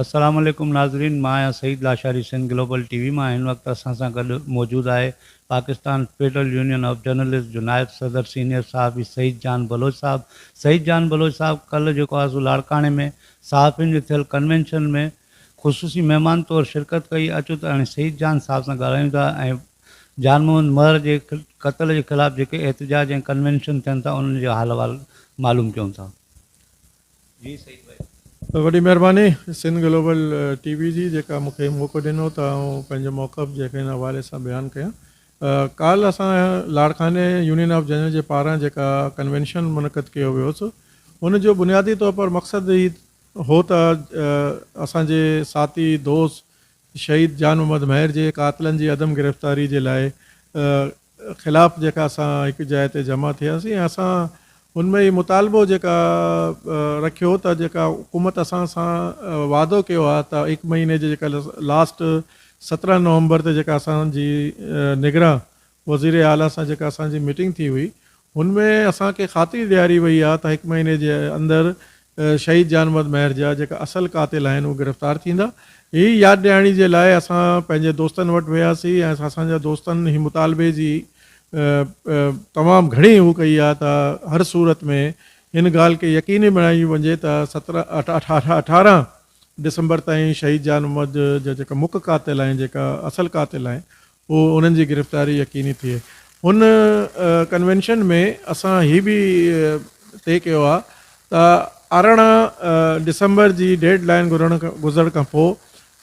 السلام عليڪم ناظرين مان آهيان Saeed Lashari Sindh global T V مان هن وقت اسان سان گڏ موجود آهي Pakistan Federal union of Journalist جو نائب صدر سينيئر صحافي سعيد جان بلوچ صاحب سعيد جان بلوچ صاحب ڪلهه جيڪو آرزو لاڙڪاڻي ۾ صحافين جي ٿيل ڪنوينشن ۾ خصوصي مهمان طور شرڪت ڪئي اچو ته هاڻي سعيد جان صاحب سان ڳالهايون ٿا ۽ جان محمد مهر جي قتل جي خلاف جيڪي احتجاج ۽ ڪنوينشن ٿين ٿا انهن جو حال احوال معلوم ڪيون ٿا جي سعيد ڀائي. وڏي مهرباني سنڌ گلوبل ٽي وي جي جيڪا مون کي موقعو ڏنو ته آئون پنهنجو موقف جيڪي هن حوالي سان بيان ڪيان ڪالهه اسان لاڙڪاڻي يونين آف ججن جي پاران جيڪا ڪنوينشن منعقد ڪيو ويو سو ان جو بنيادي طور پر مقصد هي هو ته اسان جي ساٿي دوست شهيد جان محمد مهر جي قاتلن جي عدم گرفتاري جي لاء خلاف جيڪا اسان هڪ جاء تي جمع ٿياسين ۽ اسان ان ۾ هي مطالبو جيڪا رکيو ته جيڪا حڪومت اسان سان وعدو ڪيو آهي ته هڪ مهيني جي جيڪا لاسٽ سترهن نومبر تي جيڪا اسان جي نگران وزير اعليٰ سان جيڪا اسان جي ميٽنگ ٿي هئي هن ۾ اسان کي خاطري ڏياري وئي آهي ته هڪ مهيني جي اندر شهيد جان محمد مهر جا جيڪا اصل قاتل آهن اهي گرفتار ٿيندا. هي ياد ڏيارڻي جي لاء اسان پنهنجي دوستن وٽ وياسين ۽ اسان جا دوستن هي مطالبي جي تمام گهڻي هو ڪئي آهي ته هر صورت ۾ هن ڳالهه کي يقيني بڻايو وڃي ته سترهن اٺارهن ڊسمبر تائين شهيد جان محمد جا جيڪا مک قاتل آهن جيڪا اصل قاتل آهن هو انهن جي گرفتاري يقيني ٿئي. هن ڪنوينشن ۾ اسان هي به طئي ڪيو آهي ته ارڙهن ڊسمبر جي ڊيڊ لائين گذرڻ کان پوء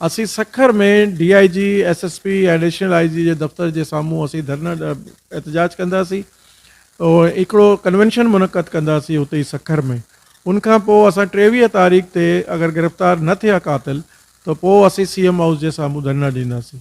اسين Sukkur ۾ D I G, S S P ۽ additional I G جي دفتر جي سامهون اسين ڌرنا احتجاج ڪنداسين. هڪڙو ڪنوينشن منعقد ڪنداسين اتي ئي سکر ۾. ان کان پوء اسان ٽيويهه تاريخ تي اگر گرفتار نه ٿيا قاتل ته پوء اسين سي ايم هائوس جي سامهون ڌرنا ڏينداسين.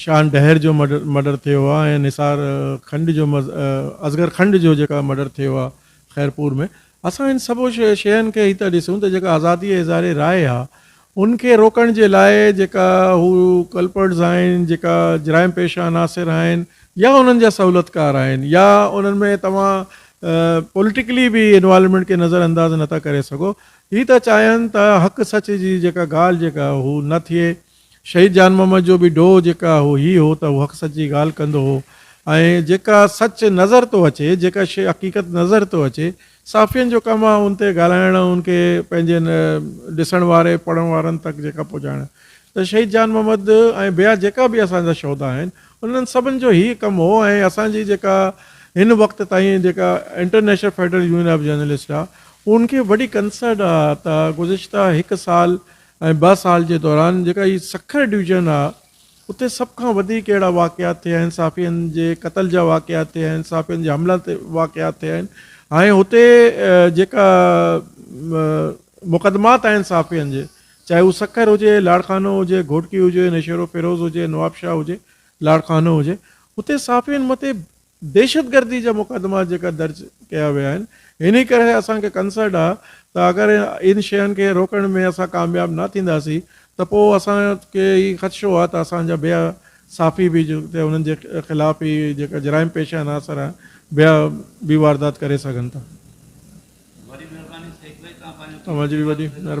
شان ڊهر جو مڊر ٿيو آ ۽ نثار کنڊ جو اصغر کنڊ جو جيڪا مڊر ٿيو آ خيرپور ۾ اسان ان سڀ شين کي هي ٿا ڏسون ته جيڪا آزادي اظهار راء آ ان کي روڪڻ جي لاء جيڪا هو ڪلپرٽس آهن جيڪا جرائم پيشه عناصر آهن يا انهن جا سهولتڪار آهن يا انهن ۾ توهان پوليٽيڪلي به انوالومينٽ کي نظر انداز نه ٿا ڪري سگهو هي ٿا چاهين ته حق سچ جي جيڪا ڳالهه جيڪا هو نه ٿئي شهيد جان محمد جو به ڊوهه جيڪا هو هي هو ته هو حق سچ جي ڳالهه ڪندو هو ۽ جيڪا سچ نظر ٿو اچي جيڪا شيء حقيقت نظر ٿو اچي صحافين جو ڪم آهي ان تي ڳالهائڻ ۽ ان کي پنهنجي ڏسڻ واري پڙهڻ وارن تڪ جيڪا پهچائڻ ته شهيد جان محمد ۽ ٻيا جيڪا به اسان جا شهدا آهن انهن سڀن جو هي ڪم هو ۽ اسان جي جيڪا هن وقت تائين جيڪا international federal union of journalist آهي ان کي وڏي ڪنسرن آهي ته گذشته هڪ سال ۽ ٻه سال جي دوران جيڪا هي سکر ڊويزن آ اتي سڀ کان وڌيڪ اهڙا واقعات ٿيا آهن صحافين جي قتل جا واقعات ٿيا آهن صحافين جي حملن تي واقعات ٿيا آهن ۽ هتي جيڪا مقدمات آهن صحافين جي چاهي هو سکر هجي لاڙڪانو هجي گهوٽڪي هجي نشيرو فيروز هجي نوابشاهه هجي لاڙڪانو هجي اتي صحافين مٿي دهشتگردي جا مقدما جيڪا درج ڪيا ويا آهن انهي ڪري اسان کي ڪنسرن آهي ته اگر ان شين کي روڪڻ ۾ اسان ڪامياب نه ٿينداسين ته پوء اسان کي هي خدشو آهي ته اسان جا ٻيا صحافي به جيڪي انهن جي خلاف هي جيڪا جرائم پيشه عناصر آهن ٻيا به واردات ڪري سگهن ٿا. وڏي مهرباني سيد ڀائي توهان پنهنجو قيمتي وقت ڏنو.